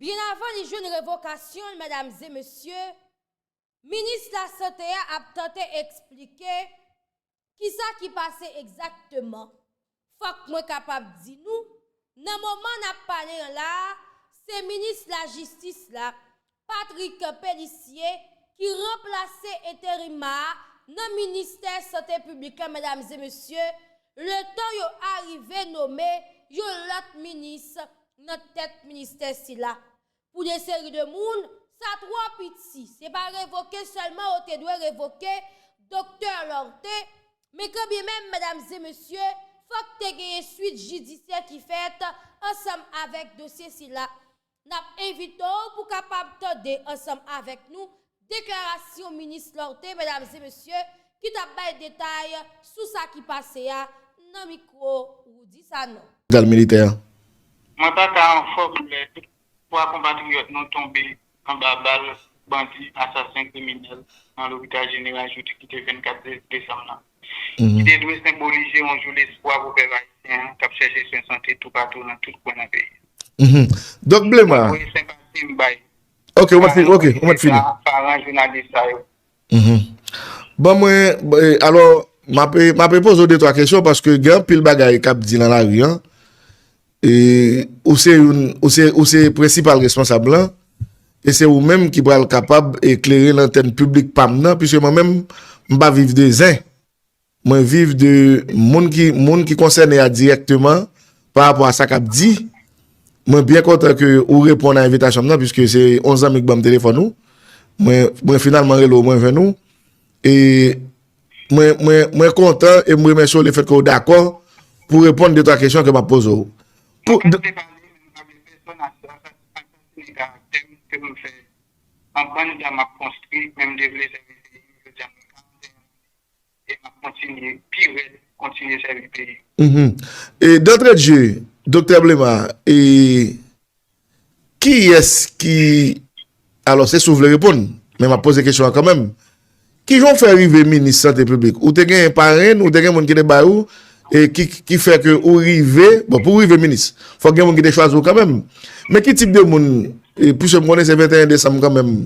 Byen avan li jwenn revokasyon l medamzemesye, minis lasante a ap tante eksplike kisa ki pase egzakteman. Fòk mwen kapab di nou, nan moman n ap pale an la a, se minis lajistis la, Patrick Pélissier, ki ranplase enterima a nan ministè sante piblik la medamzemesye, letan yo arive nome yon lòt minis nan tèt ministè sila pou de seri de moun, sa twò piti, se pa revoke sèlman yo te dwe revoke Doktè Lorthe, men kanbyen menm medamzemesye, fòk te genyen swit jidisyè ki fèt ansanm avèk dosye sila. N ap envite w pou kapab tande ansanm avèk nou Deklarasyon minis Lorthe medam e mesye ki tap bay detay sou sa ki pase a nan mikwo Roody Sanon. Gal militè an. Mwen pa ka anfòm lè 3 konpatriyòt nou tonbe anba bal bandi asasen kriminèl nan lopital jeneral jodi ki te 24 desanm nan, ki te dwe senbolize yon jou lespwa pou pèp ayisyen an k ap chèche swen sante toupatou nan tout kwen nan peyi a. Mwen voye senpati m bay. Ok, ou mèt fini, ok, ou mèt fini. Paran jounalis sa yo. Mh, bon mwen, alò, m ape, m ape poze ou de twa kesyon paske gen anpil bagay k ap di nan lari an, e ou se youn, ou se, ou se prensipal responsab lan, e se ou menm ki pral kapab eklere lantèn piblik pa m nan, piske mwen menm, m pa viv de zen. Mwen viv de moun ki moun ki konsène a dirèkteman pa rapò a sa k ap di. Mwen byen kontan ke ou reponn a envitasyon m nan piske se yon zanmi k ban m telefòn ou. Mwen mwen finalman rele w mwen jwenn ou. E mwen mwen mwen kontan e m remèsye w lefèt ke w dakò pou reponn de twa kesyon ke m ap poze w. Pou Mwen pase pale men m pa vle pèsòn asasinen karaktè m ke m fè anbann tan m ap konstwi men m te vle sèvi peyi m jodi a mwen 41 lane. E map kontinye pi rèd kontinye sèvi peyi m. Uhmm D'entrée de jeu Doktè Blema e kiyès ki alò se si w vle reponn men map poze kesyon an kanmenm kijan w fè rive minis sante piblik ou te gen parenn ou te gen moun ki te bay ou e ki fè ke ou rive bon pou w rive minis fòk gen moun ki te chwazi w kanmenm men ki tip de moun piske m konnen se 21 desanm kanmenm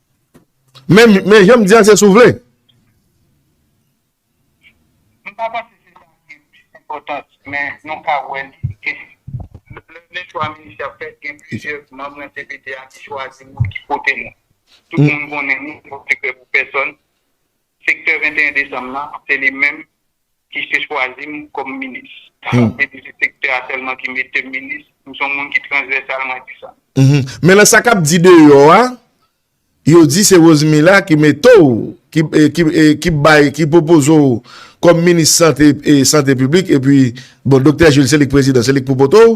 Men men janm di a se sou vle. M pa panse se sa ki pi enpòtan men nou ka wè li gen lè gen chwa minis ap fèt gen plizyè manm nan cpt a ki chwazi moun ki pote nou. Tout moun konnen nou, nou pa fè krè pou pèsòn. Sektè 21 desanm nan, se li menm ki se chwazi m kòm minis. Sa vle di se sektè a sèlman ki mete m minis. M son moun ki transvèsal, mwen di sa. Men nan sa k ap di deyò a, yo di se Rosemila ki mete w, ki bay, ki pwopoze w kòm minis sante, sante piblik, epi bon Doktè Jules se li k prezidan, se li k pou poto w.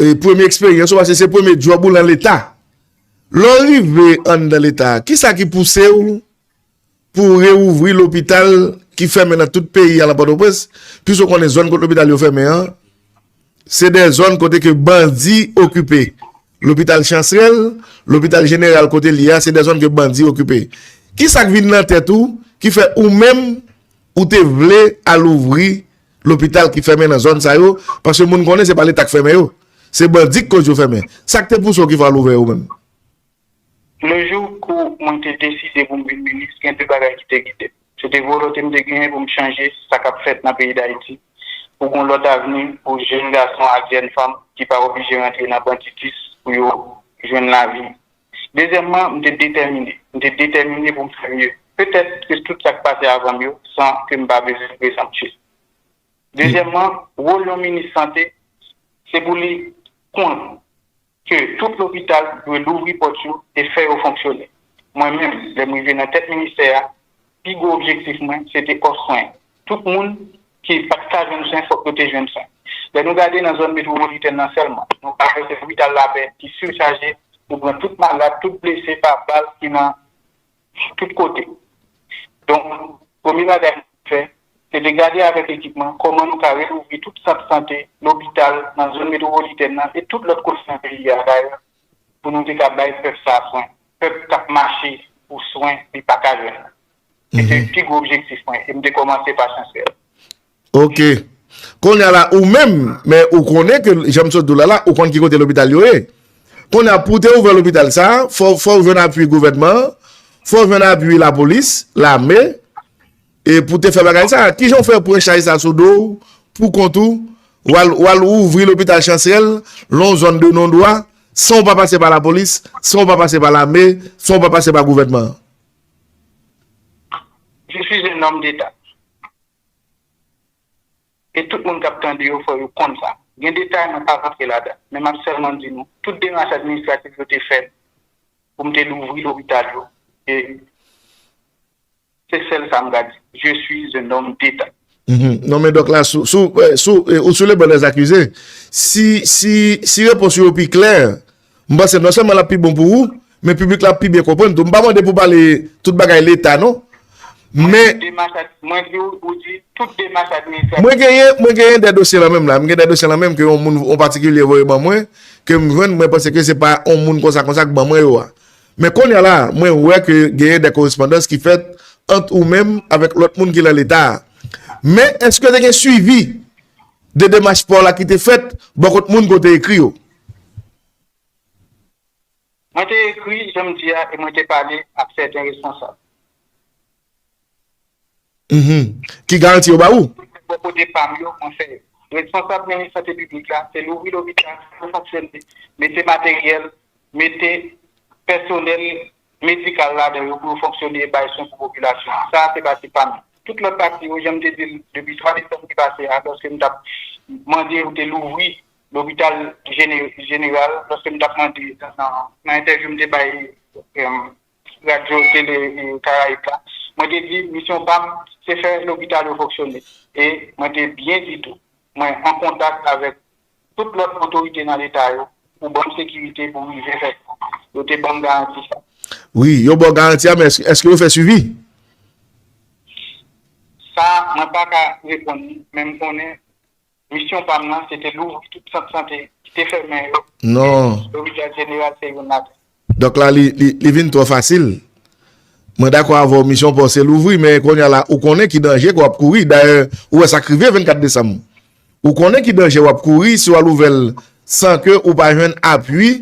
E premye eksperyans ou paske se premye djòb ou lan leta. Lè w rive anndan leta, kisa ki pouse w pou w rewouvri lopital ki fèmen nan tout peyi a lan Pòtoprens? Pwis ou konnen zòn kot lopital yo fèmen an, se dè zòn kote ke bandi okipe. Lopital Chansrèl, lopital jeneral kote l ye a, se dè zòn ke bandi okipe. Kisa k vin lan tèt ou ki fè ou menm ou te vle al ouvri Lopital ki fèmen nan zòn sa yo paske moun konnen se pa leta k fèmen yo se bandi k koz yo fèmen sak te pouse w ki fè w al ouvè yo menm? Le jour kou mwen te deside pou m vin minis gen 2 bagay ki te gide m se te volonte m te genyen pou m chanje sa kap fèt nan peyi dayiti pou gon lòt avni pou jèn gason ak jèn fanm ki pa oblije rantre nan banditis pou yo jwenn lavi Dezyèmman, m te detèmine. M te detèmine pou m fè mye. Petèt ke tout sa k pase avan m yo, san ke m pa bezwen prezanptif. Dezyèmman, wol yon minis sante, se pou li konn ke tout lopital dwe louvri pòt yo e fè yo fonksyone. Mwen menm, lè m rive nan tèt ministè a, Pi gwo objektif mwen se te òf swen. Tout moun ki pa t ka jwenn swen fòk yo te jwenn swen. Lè nou gade nan zòn metwopolitèn nan sèlman, nou ka wè se lopital Lapè ki sichaje pou pran tout malad, tout blese pa bal ki nan tout kote. Donk, premye bagay mwen te fè, se te gade avèk ekip mwen kòman nou ka relouvri tout sant sante, lopital nan zòn metwopolitèn nan e tout lòt kote nan peyi a dayè Pou nou te ka bay pèp sa swen. Pèp k ap mache pou swen li pa ka jwenn. Se te pi gwo objektif mwen e m te kòmanse pa chansè. Ok. Kounye a la ou menm, men ou konnen ke jan m sot di w la la, ou konn ki kote lopital yo ye. Kounye a pou w te ouvè lopital sa, fò w jwenn apui gouvènman an, fò w jwenn apui lapolis, lame, E pou te fè bagay sa, ki jan ou fè pran chay sa sou do ou, pou kont ou, ou al ouvri lopital Chansèl, lon zòn de non dwa, san ou pa pase pa lapolis, san ou pa pase pa lame, san ou pa pase pa gouvènman an? Je suis un homme d'Etat. E tout moun k ap tande yo fò yo konn sa. Gen detay mwen pa rantre ladan, men m ap sèlman di nou, tout demach administratif yo te fèt pou m te louvri lopital yo, e. Se sel sa m ka di. Je suis un homme d'Etat. Non men dok la sou ou sou le ban des akize si repons ou yo pi klè m panse non sèlman l ap pi bon pou ou men piblik la ap pi byen konprann tou m pa mande pou pale tout bagay leta non men mwen di ou di tout demach administratif mwen genyen mwen genyen de dosye la menm la m genyen de dosye la menm ke yon moun yon patikilye voye ban mwen ke m jwenn mwen panse ke se pa yon moun konsa konsa k ban mwen yo a Men konnya la a, mwen wè ke genyen dè korespondans ki fèt ant ou menm avèk lòt moun ki lan leta a. Men, èske te gen swivi de demach pa w la ki te fèt bò kot moun ke w te ekri yo? Mwen te ekri, jan m di a, e mwen te pale ak sèten responsab. Ki garanti yo ba ou? Mwen menm bò kote pa m yo, mwen fè responsab minis sante piblik la, se louvri lopital, se fonksyone, mete materyèl, mete pèsonèl medikal ladan yo pou yo fonksyone e bay swen pou popilasyon an. Sa a se pati pa m. Tout lòt pati yo, jan m te di l depi 3 desanm ki pase a, lòske m t ap mande yo te louvri lopital jeneral, lòske m t ap mande nan entèvyou m te bay. Radyo Tele Karayib la, mwen te di misyon pa m se fè lopital yo fonksyone e mwen te byen di tou mwen an kontak avèk tout lòt otorite nan leta yo pou ban m sekirite pou rive fè sa. Yo te ban m garanti sa. Wi, yo ba w garanti a men èske yo fè swivi? Sa mwen pa ka reponn ou men m konnen Misyon pa m nan se te louvri tout sant sante ki te fèmen yo e lopital jeneral se youn ladan. Dòk la li vin twò fasil. Mwen dakò avè w misyon pa w se louvri men kounye a la ou konnen ki danje ke w ap kouri. Dayè ou wè sa k rive 24 desanm. Ou konnen ki danje w ap kouri si w al ouvè l san ke ou pa jwenn apui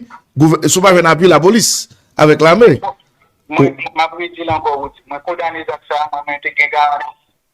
si w pa jwenn apui lapolis avèk lame. Mwen m ap redi l ankò Rody. Mwen kondane zak sa a men mwen te gen garanti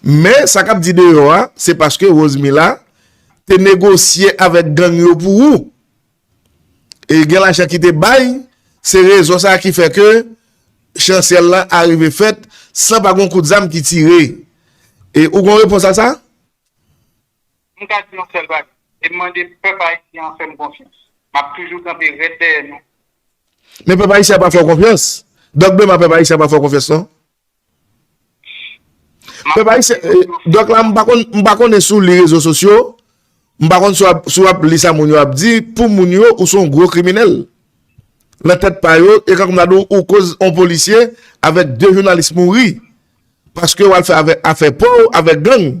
Men sa kap di deyò a se paske Rosemila te negosye avèk gang yo pou ou e gen lajan ki te bay se rezon sa ki fè ke chansyèl la arive fèt san pa gon kout zam ki tire e ou gon repons a sa? M ka di yon sèl bagay e m mande pèp ayisyen an fè m konfyans m ap toujou kanpe rèd dèyè nou. Men pèp ayisyen an pa fè w konfyans? Dòk Bema pèp ayisyen an pa fè w konfyans non? Pèp ayisyen, dòk la m pa konn, m pa konnen si w li rezo sosyo, m pa konn si w ap, si w ap li sa moun yo ap di, pou moun yo ou se yon gwo kriminèl. Nan tèt pa yo, e kòm m ta di w, ou koz yon polisye avèk 2 jounalis mouri paske w al fè afè pa w avèk gang.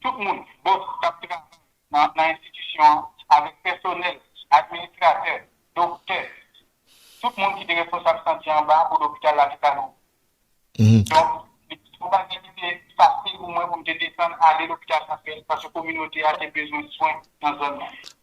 Tout moun, bòs, k ap travay nan enstitisyon an, avèk pèsonèl, administratè, doktè, tout moun ki te responsab santi an ba pou lopital la te ka louvri. Donk, li pa t yon bagay ki te fasil pou mwen pou m te desann ale lopital Santrèl paske kominote a te bezwen swen nan zòn nan.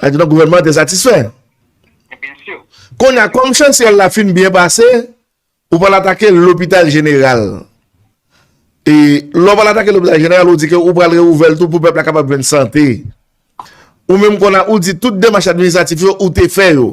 Sa vle di gouvènman an te satisfè? Kounye a, kòm chantyè la fin byen pase, ou pral atake lopital jeneral. E lè ou pral atake lopital jeneral, ou di ke ou pral rewouvè l tou pou pèp la kapab jwenn sante. Ou menm kounye a, ou di tout demach administratif yo ou te fè yo.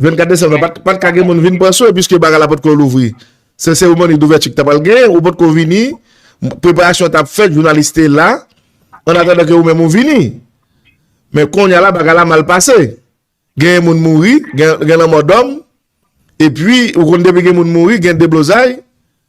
24 desanm nan pat ka gen moun vin pran swen piske bagay la potko louvri. Se seremoni douvèti ki ta pral gen, ou potko vini, preparasyon tap fèt, jounalis te la, an atandan ke ou menm ou vini. Men konya la bagay la mal pase. Gen moun mouri, gen lanmò dòm, epi ou konn depi gen moun mouri, gen deblozay,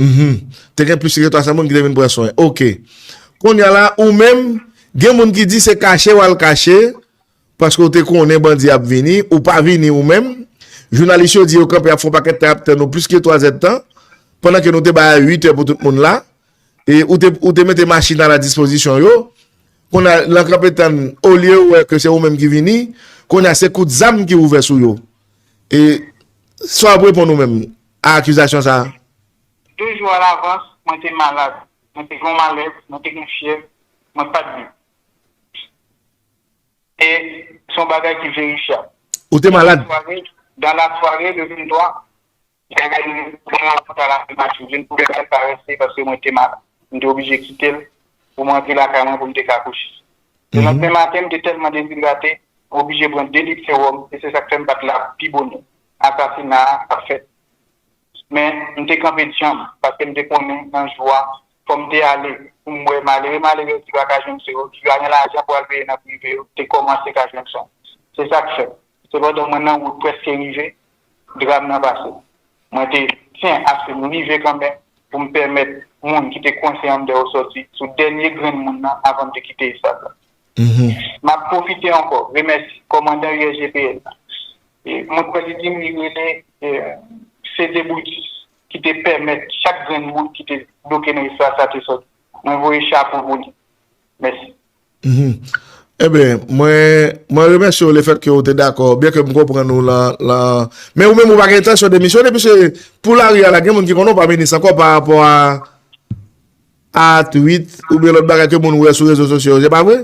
Mph te gen plis ke 300 moun ki te vin pran swen ok kounya la ou menm gen moun ki di se kache wal kache paske ou te konnen bandi ap vini ou pa vini ou menm jounalis yo di yo kanpe ap fon pakèt tan ap tann ou plis ke 3 zèd tan pandan ke nou te bay a 8 è pou tout moun la e ou te mete machin a la dispozisyon yo kounya lan kanpe tann olye ou wè ke se ou menm ki vini kounya se kout zam ki ouvè sou yo e sa wap reponn ou menm a akizasyon sa a. De jou alavans, mwen te malad, mwen te gen yon malèz, mwen te gen fyèv, mwen pa t viv. E se yon bagay ki verifyab. Ou te malad? Dan lasware le 23, bagay yo vin pi mal paske mwen te vin pi malad parese paske mwen te malad. Mwen te oblije kite l pou mwen antre lakay mwen pou m te ka kouche. Le landemen maten, mwen te tèlman dezidrate, mwen oblije pran 2 lit sewòm e se sa k fè m pa t la pi bonè. Asasina a ap fèt. Men, m te kanpe djanm, paske m te konnen nan jou a, fò m te ale pou m wè malere malerèz ki pa ka jwenn swen yo, ki pa gen lajan pou al peye nan prive yo, te kòmanse ka jwenn swen. Se sa k fè, sepandan mwen nan wout prèske rive, dram nan pase. Mwen te tyen aske m rive kanmenm pou m pèmèt moun ki te kwense anndan yo sòti sou dènye grenn moun nan avan m te kite estad la. M ap pwofite ankò remèsi kòmandan USGPN nan. Mwen kwè li di m li rele Cédé Brutus ki te pèmèt chak grenn moun ki te bloke nan istwa sa te sòti. Mwen voye chapo pou li. Mèsi. Enben, mwen remèsye w lefèt ke w te dakò, byen ke m konprann ou lan. Men ou menm ou pa gen entansyon demisyone, piske pou lari a la gen moun ki konnen w pa minis ankò parapò a. A tweet oubyen lòt bagay ke moun wè sou rezo sosyo yo se pa vre?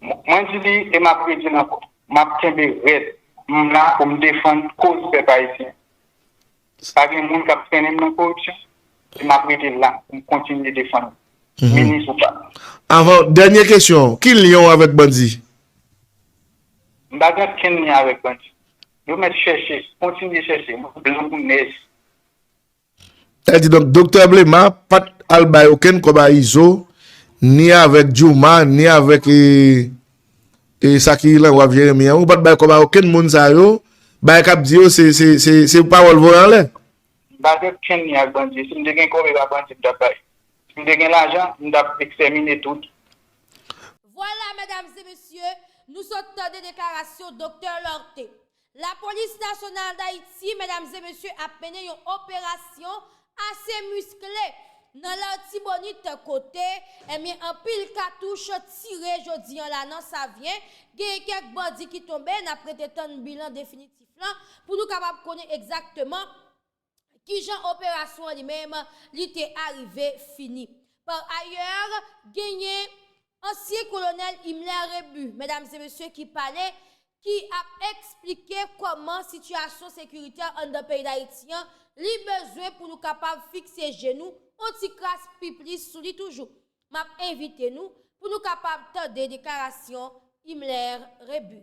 Mwen di li e map redil ankò. Map kenbe rèd. M la pou m defann koz pèp ayisyen. Pa gen moun kap trennen m nan koripsyon e map rete la pou m kontinye defann li. Minis ou pa. Avan, dènye kesyon, ki lyen w avèk bandi? M pa gen okenn lyen avèk bandi. Yo mèt chèche, kontinye chèche, moun blan kou nèj. Sa di donk Doktè Blema pa t al bay okenn kòb a Izo, ni avèk Djouma, ni avèk e sa ki lan waf Jeremi an. Ou pa t bay kòb a okenn moun sa yo. Bagay k ap di yo se se se se pawòl voye anlè. M pa gen okenn lyen ak bandi. Si m te gen kòb e pa bandi m t ap bay. Si m te gen lajan, m t ap ekstèmine tout. Vwala medam e mesye, nou sot tande deklarasyon Doktè Lorthe. Lapolis Nasyonal Dayiti medam e mesye ap mennen yon operasyon ase miskle nan Lartibonit kote ebyen anpil katouch tire jodi an la nan Savyen, genyen kèk bandi ki tonbe, n ap rete tann bilan definitif lan pou nou kapab konnen egzakteman. kijan operasyon an li menm li te arive fini. Par ailleurs, genyen ansyen kolonèl Himmler Rebu, medam e mesye, ki pale, ki ap eksplike kòman sitiyasyon sekiritè anndan peyi Dayiti an, li bezwen pou nou kapab fikse je nou on ti kras pi plis sou li toujou. M ap envite nou pou nou kapab tande deklarasyon Himmler Rebu.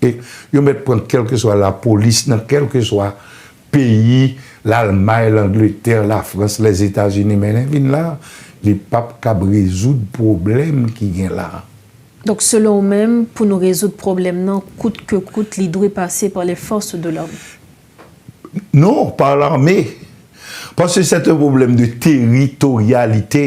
E yo mèt pran kèlkeswa lapolis nan kèlkeswa peyi, Lalmay, Langletè, Lafrans, Lèzetazini, men lè vin la, li p ap kab rezoud pwoblèm ki gen la. Donk selon ou menm, pou nou rezoud pwoblèm nan kout ke kout li dwe pase pa les forces de l'ordre? Non, pa lame. Paske sèt un pwoblèm de teritoryalite.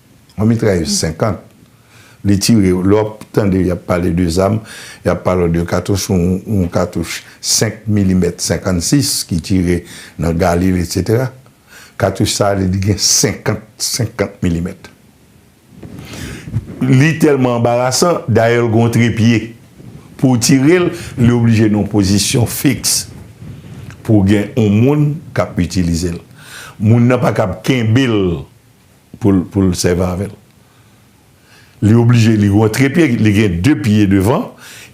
Yon mitrailleuse 50 li tire yo lè wap tande yap pale de zam yap pale w de katouch yon katouch 5 milimèt 56 ki tire nan galil etc katouch sa li di gen 50 50 milimèt li tèlman anbarasan dayè l gen yon trepye pou w tire l li oblije nan yon pozisyon fiks pou gen yon moun kap itilize l moun nan pa kab kenbe l pou l sèvi avè l. Li oblije li gon tre pye, li gen de pye devan,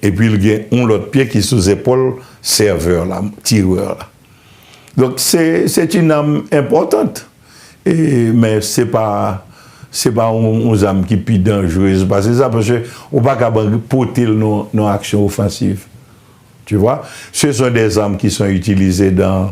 epi l gen yon lòt pye ki sou zepòl sèvè la, tirè la. Donk, se ti nam enpòtant, men se pa yon zam ki pi danjrez pase sa, pase ou pa kab pote l nan yon aksyon ofansiv. Se son de zam ki son itilize dan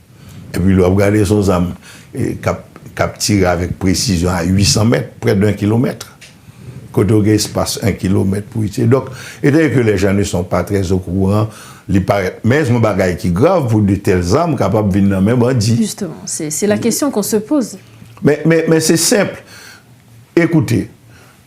Epi lè w ap gade s on zam k ap tire avèk presizyon a 800 mèt, prè de 1 kilomèt, kote w gen espas 1 kilomèt pou itilize. Donk, etandone ke lèjan ne son pa trè okouran, li parèt men s on bagay ki grav pou de tèl zam kapab vin nan men bandi. Jisteman, se la kesyon k on se poze. Men se senp. Ekoute.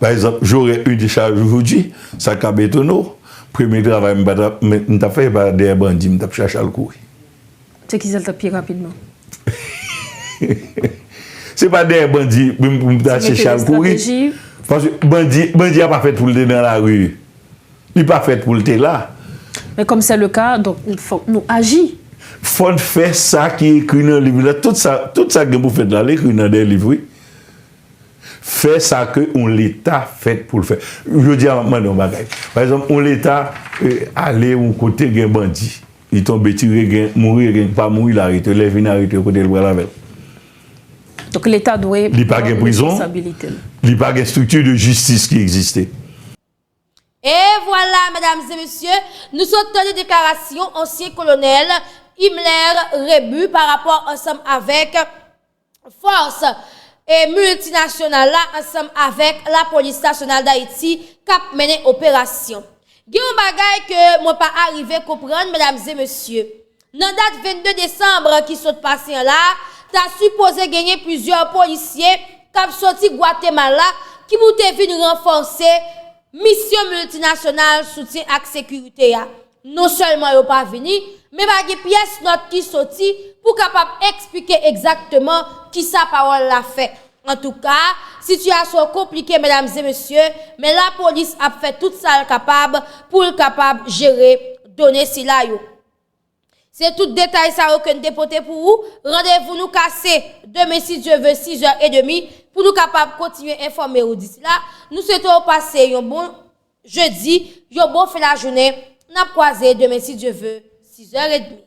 Pa egzanp, j'aurais eu des charges aujourd'hui, sa kab etone w, premye travay m pa m tap fè e pa dèyè bandi m tap chache al kouri. Se ki sa l tap pi rapidman? Se pa dèyè bandi m pou m ta chèche al kouri. Paske bandi, bandi a pa fèt pou l te nan lari. Li pa fèt pou l te la. Men kòm sè le ka, donk fòk nou aji. Fòn fè sa ki ekri nan liv la. Tout sa, tout sa gen pou fèt la, li ekri nan de liv wi. Fè sa ke yon leta fèt pou l fè. Jodi a m ap mande yon bagay. Pa egzanp, yon leta ale yon kote gen bandi. Li tonbe tire, gen mouri e gen ki pa mouri, l arete yo. Lè vini arete yo, kote l pral avè l? Donk leta dwe pran responsabilite l. Li pa gen prizon, li pa gen strikti de jistis ki egziste. E vwala medam e mesye, nou sot tande deklarasyon ansyen kolonèl Himler Rebu pa rapò ansanm avèk fòs miltinasyonal la ansanm avèk lapolis nasyonal Dayiti k ap mennen operasyon. Gen yon bagay ke mwen pa arive konprann medam e mesye. Nan dat 22 desanbre ki sot pase an la, ta sipoze genyen plizyè polisye k ap soti Gwatemala ki pou te vin ranfòse Misyon miltinasyonal soutyen ak sekirite a, non sèlman yo pa vini, men pa gen pyès nòt ki soti pou kapab eksplike egzakteman kisa pawòl la fè. Antouka, sitiyasyon konplike medam e mesye, men lapolis ap fè tout sa l kapab pou l kapab jere done sila yo. Se tout detay sa yo ke n te pote pou ou, randevou nou ka se demen si Dye ve 6 è edemi pou nou kapab kontinye enfòme ou disi la nou swete w pase yon bon jedi yon bon fen lajounen n ap kwaze demen si Dye ve 6 è edmi.